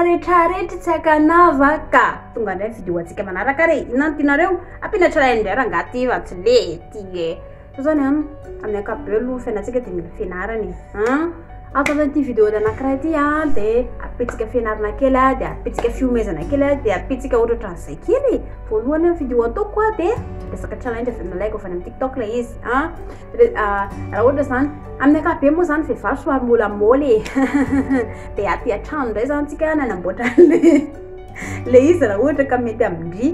rehetrarehetra tsy akanava ka tonga indray video antsika manaraka re inona no tianareo ampiana tralainy indray raha ngaty efa tsy le ty e so zany an amin'ny ankapobeo aloha fiainantsika dia mila fianarana e an Afaka ity vidéo anankiray ity an dia apitsika fianarana kely an dia apitsika fiomezana kely an dia apitsika ohatra ohatran'izay kely e. voalohany ny vidéo ataoko an dia resaka challenge avy nalaiko avy any amin'ny tiktok ilay izy an raha ohatra izany amin'ny akabe moa izany vehivavy somary mbola moly e dia aty an-trano indray izany tsika nanamboatra an'ilay ilay izy raha ohatra ka mety amin-dry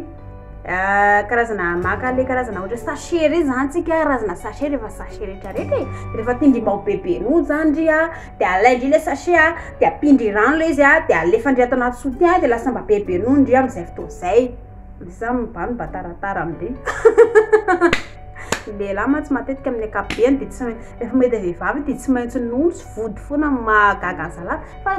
Ah, karazana maka le karazana ohatra sachet reny zany tsika razana sachet rehefa sachet rehetra rehetra e rehefa tindrimao bebe noho zany ry a de alaindri le sachet a de ampindry rano le izy a de alefandri ato anaty soutien de lasa mba bebe noho ndri am'izay fotoana zay de sa mba no mba taratara amindri ny lehilahy mantsy matetika amin'ny ankapobeny de tsy rehefa mahita vehivavy de tsy maintsy nono sy vody foana mahagaga an'zalahy fa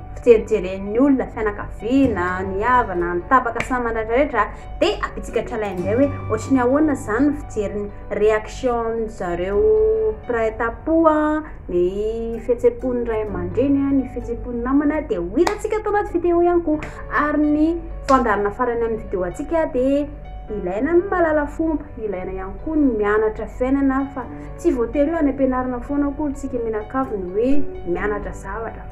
fijerijeren'ny olona, fianakaviana, ny havana, ny tapaka samy mandraidraretra dia ampitsika tralay indray hoe ohatry ny ahoana izany ny fijerin'ny réaction zareo mpiray tampo ny fihetsem-pon'ny ray aman-dreny ny fihetsem-pon'ny namana dia ho hitantsika tao anaty vidéo ihany koa ary ny fandaharana farany amin'ny vidéo antsika dia ilaina ny mahalala fomba ilaina ihany koa ny mianatra fiainana fa tsy voatery hoe any am-pianarana foana akory tsika mianakavy ny hoe mianatra zavatra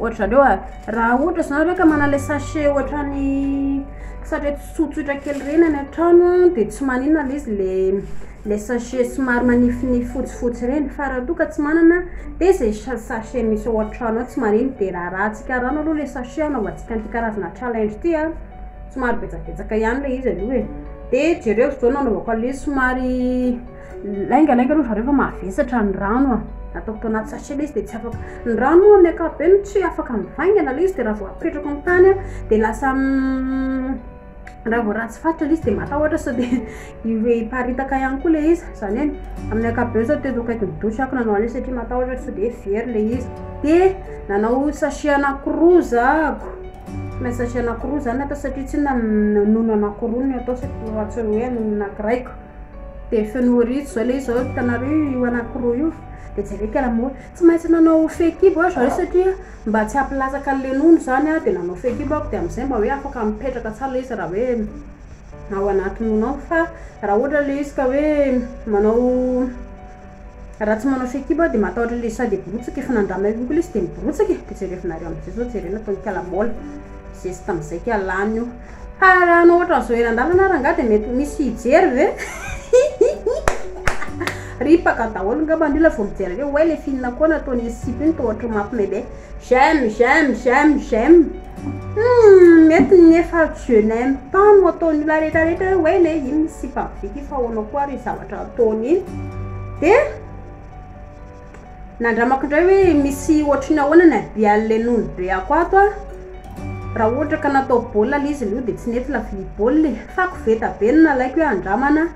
Ohatra zareo a, raha ohatra zany reo ka manana ilay sachet ohatran'ny sachet tsotsotra kely ireny any an-trano a, dia tsy maninona ilay izy le le sachet somary manifinify fotsifotsy ireny, fa raha toa ka tsy manana dia zay sa- sachet misy ao an-trano ao tsy maninona, dia rarahantsika rano aloha ilay sachet anaovantsika an'ity karazana challenge ity a, somary betsabetsaka ihany ilay izy aloha e, dia jereo zao nanaovako an'ilay izy somary. Lainga lainga aloha zareo fa mavesatra ny rano a. Ataoko tao anaty sachet le izy dia tsy afaka. Ny rano moa amin'ny ankapobeny tsy afaka mivaingana le izy dia raha vao apetrako amin'ny tany a dia lasa raha vao ratsy faritra le izy dia matahotra sao dia hiparitaka ihany koa le izy. Izany hoe amin'ny ankapobeny sao teto akaikin'ny douche ako nanao an'io satria matahotra sao dia very le izy. Dia nanao sachet anankiroa za ko. Ilay sachet anankiroa zany atao satria tsinona nono anankiroa no atao satria tsy hoe nono anankiray ko. Dia feno ry zao le zao hitanareo io anankiroa io dia jereko ala moa tsy maintsy nanao fekibo aho zareo satria mba tsy hampilatsaka an'le nono izany aho dia nanao fekibo aho dia amin'izay mba hoe afaka mipetraka tsara le izy raha hoe ao anaty nono ao fa raha ohatra le izy ka hoe manao Raha tsy manao fehikibo dia matahotra ilay sady hiborotsoka efa nandrama eo ihany koa ilay izy dia miborotsoka e! dia jerevinareo amin'izay zao jereo nataon'i kala maola zesty tamin'izay kay lany io fa raha hanao ohatran'ny zoera an-dalana ary angaha dia mety ho misy hijery ve? ripaka daholo ngamba ny olona vao mijery an'io oay le film akao nataon'iny sipa iny toa ohatran'ny mampme be J'aime, j'aime, j'aime, j'aime Humm mety ny efa je n'aime pas no ataon'ny olona rehetra rehetra hoe wena e iny misy sipa be ty fa ahoana koa ary iny zavatra ataony iny de nandramako indray hoe misy ohatry ny ahoana ny habian'le nony be ako ato a raha ohatra ka natao baolina le izy le io de tsy nety la vilia baolina e fa koveta be no nalaiko hoe andramana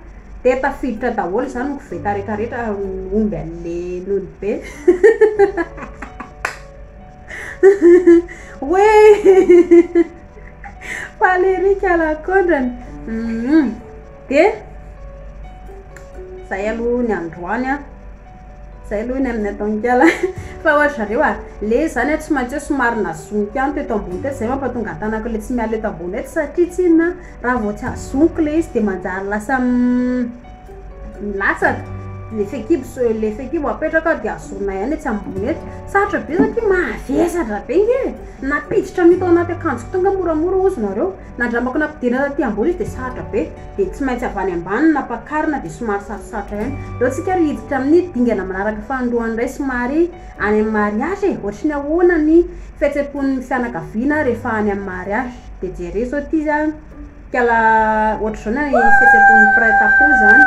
Dia tafiditra daholo zany ny koveta rehetra rehetra omby anle nony be we Valérie kalakondrany hum dia zay aloha ny androany an. Zay aloha ny amin'ny ataon'ikala fa ohatry zareo a le zany a tsy maintsy hoe somary nazoniko ihany teto ambony teto zay mampatonga ny tanako le tsy miala eto ambony eto satria tsinona raha vao tsy azoniko le izy de manjary lasa milatsaka le fekibo so- le fekibo apetraka aho de azonay ihany etsy ambony etsy sarotra be satria mavesatra be nge e nampiditra mito anaty akanjo tonga moramora ozy nareo nandramako nampidirina taty ambony izy de sarotra be dia tsy maintsy avy any ambany nampakarina dia somary sarosarotra ihany leo tsika ary hiditra amin'ny dingana manaraka fanindroany indray somary any amin'ny mariage e ohatry ny ahoana ny fihetsem-pon'ny fianakaviana rehefa any amin'ny mariage dia jereo izao ity izany kala ohatry izao ny fihetsem-pon'ny mpiray tampo izany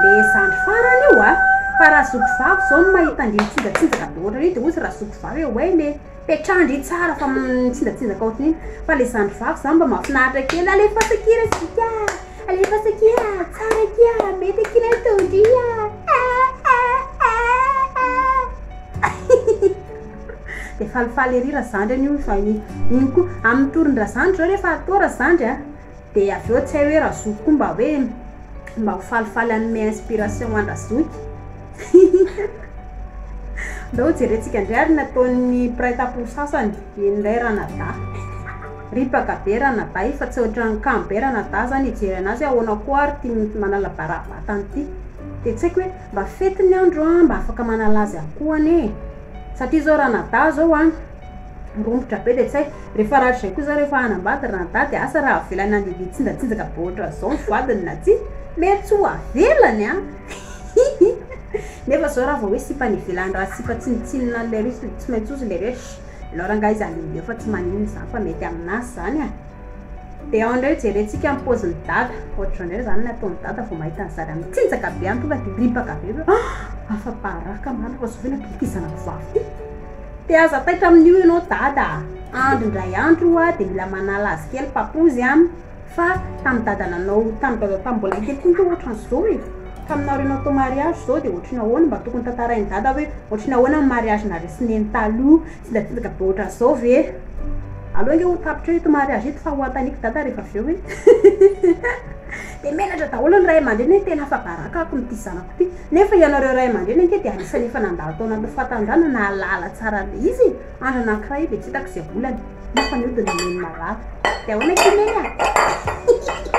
le zandry farany io a fa raha zoky vavy izao no mahita an'ireny tsinjatsinjaka be ohatran'io dia hozy raha zoky vavy hoe oay le Petraha ndry tsara fa mitsinjatsinjaka ohatran'iny fa le zandry vavy zany mba mahafinaritra kely alefaso akia re zika a alefaso akia tsara akia mety akia ilay tondro io a eehh de falifaly ery razandry anio fa iny koa amin'ny tory ndrazandry zao refa atao razandry a Dia avy eo tsy hay hoe Razoky koa mba hoe mba ho falifaly hanome inspiration an-dRazoky. Andao ho jerentsika indray ary ny ataon'ny mpiray tampo sasany. Eny indray Ranadahy. Ripaka be Ranadahy fa tsy ohatran'ny kamo be Ranadahy izany hijery an'azy ahoana koa ary ity manalabarabatan ity. Dia tsy haiko hoe mba fety ny andro an, mba afaka manala azy any koa anie e. Satria izao Ranadahy izao an. Romotra be le tsay. Refa ratra zay koa za refa hanambady ry Dada e asa ra avela nandeha tsinjatsinjaka be otranzao ny vadiny na ty mety tsy ho avelany an! hihi nefa zao ra vao hoe sipa any ivelany ra sipa tsinotsinona any le riche de tsy maintsy ozy le riche alors angaha izy handehandeha eo fa tsy maninona zany fa mety aminazy zany an! de andreo jerentsika ny pôziny Dada otranzao ndray zany ny ataony Dada vao mahita ny zanany mitsinjaka be any tonga de ripaka be hoe afa-baraka marina fa zao ve natolotry ty zanako vavy ty? Dia aza taitra amin'io ianao Dada a! Andro indray andro io aho dia mila manala azy kely papozy an! Fa tamin'ny dadananao, tamin'ny dadao tamin'ny mbola kely koa ianao ohatran'izao e! Taminao reny atao mariazy izao dia ohatry ny ahoana? Mba tokony tantarain'i Dada hoe ohatry ny ahoana ny mariazinareo sy Neny taloha? Sendra tonga be ohatran'izao ve? Aleo ange ho tapitra eo ito mariazy ito fa ho anontaniako Dada rehefa avy eo hoe. Dia menatra daholo ny ray aman-dreny hoe tena afa-baraka ako amin'ity zanako. Ty. Nefa ianareo ray aman-dreny ange dia anisan'ny efa nandalo tao anatin'ny fahatanjahana nahalala tsara an'ilay izy e! Andro anankiray dia tsy hitako izay volana, nefa ny hodiny nomeny marary. Dia ahoana ity Neny a? Hihihihi!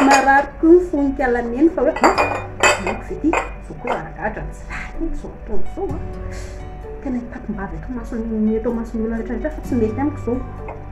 Marary koa ny fon'Inkala Neny fa hoe an! Amiko ve ity? Izao koa ara-gadra ny zary e! Izao ataony izao an! Tena hitakim-bavy ato imason'ny, eto imason'ny olona rehetra rehetra fa tsy mety amiko izao.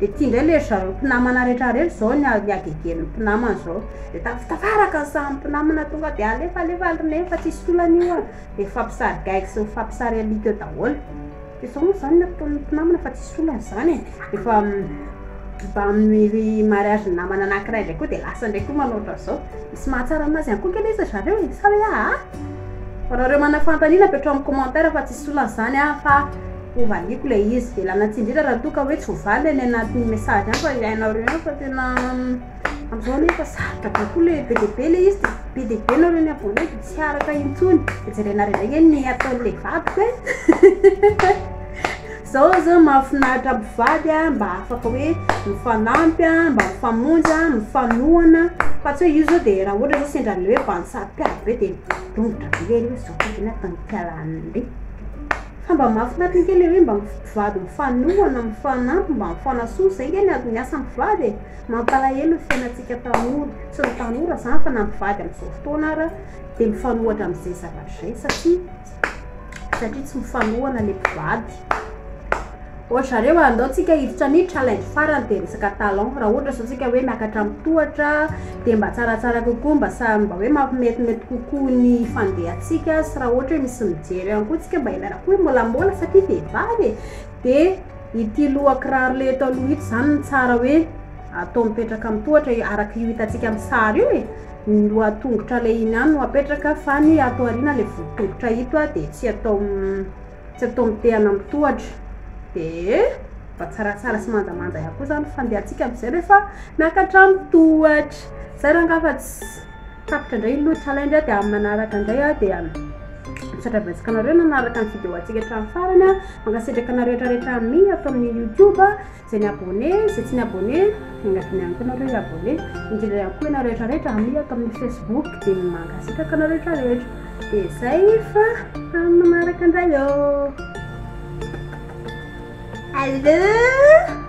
de ty ndray le ry zareo mpinamana rehetra rehetra zao ny ny agegen'ny mpinamana zao de tafitafaraka ny samy mpinamana tonga de alefa alefa ry neny fa tsisy tolana io a de mifampisary gaigy sy mifampisary alika eo daholo de zao moa zany ny ataon'ny mpinamana fa tsisy olana zany e efa mba miri mariazin'ny namana anankiray ndray koa de lasa ndray koa manao otran'zao misy mahatsara anazy ihany koa nge le izy ry zareo e sa hoe aa fa nareo manana fanontaniana apetrao amin'ny commentaire fa tsisy olana zany an fa Ho valiako ilay izy. Velana tsy indrindra raha toa ka hoe tsy ho valy ilay anatin'ny message any fa hiainareo ihany fa tena amin'izao anie efa sarotra be koa ilay be dia be ilay izy dia be dia be nareo ny abonné dia tsy araka intsony. Dia jerenareo indray anie ny ataon'ilay vadiko e! Izao izao mahafinaritra mpivady a, mba afaka hoe mifanampy a, mba mifamonjy a, mifanohana fa tsy hoe io izao dia raha ohatra izao sendra an'ilay hoe vantsary mpiady be dia dongotra be lery io, izao koa ve ny ataon'ny mpiara-monina e! Fa mba mahafinaritra ange le hoe mba mpivady mifanohana, mifanampy, mba mifanasoa, zay nge ny adin'ny asa mpivady e! Mampalahelo ny fiainantsika tanora, tsy ny tanora zany fa na mpivady amzao fotoana ara de mifanohatra amzay zavatra zay satria satria tsy mifanohana le mpivady. Ohatra zareo a, andao tsika hiditra ny challenge farany dia resaka talent, raha ohatra izao tsika hoe miakatra amin'ny tohatra dia mba tsaratsara kokoa mba samy mba hoe mampimetimety kokoa ny fandehantsika sy raha ohatra hoe misy mijery ihany koa tsika mba ilaina koa molamola satria vehivavy e! dia ity lohakiraro le eto aloha ito zany no tsara hoe atao mipetraka amin'ny tohatra e! araka io hitantsika amin'ny sary io e! ny lohatongotra le iny ihany no apetraka fa ny ato aoriana le voditongotra ito dia tsy atao Tsy atao mitehana amin'ny tohatra. Dia mba tsaratsara sy manjamanja ihany koa izany ny fandehantsika amin'izay rehefa miakatra amin'ny tohatra. Izay rangaha fa tsy tapitra indray ny loha challenge dia amin'ny manaraka indray aho dia misaotra betsaka anareo nanaraka ny vidéo antsika hatramin'ny farany. Mankasitraka anareo rehetra rehetra amin'ny ato amin'ny youtube. Zay ny abonné, zay tsy ny abonné, mila dinihaniko nareo hi abonné, indrindra ihany koa ianareo rehetra rehetra ami ato amin'ny facebook dia mankasitraka anareo rehetra rehetra, dia zay fa amin'ny manaraka indray oo. Alloo.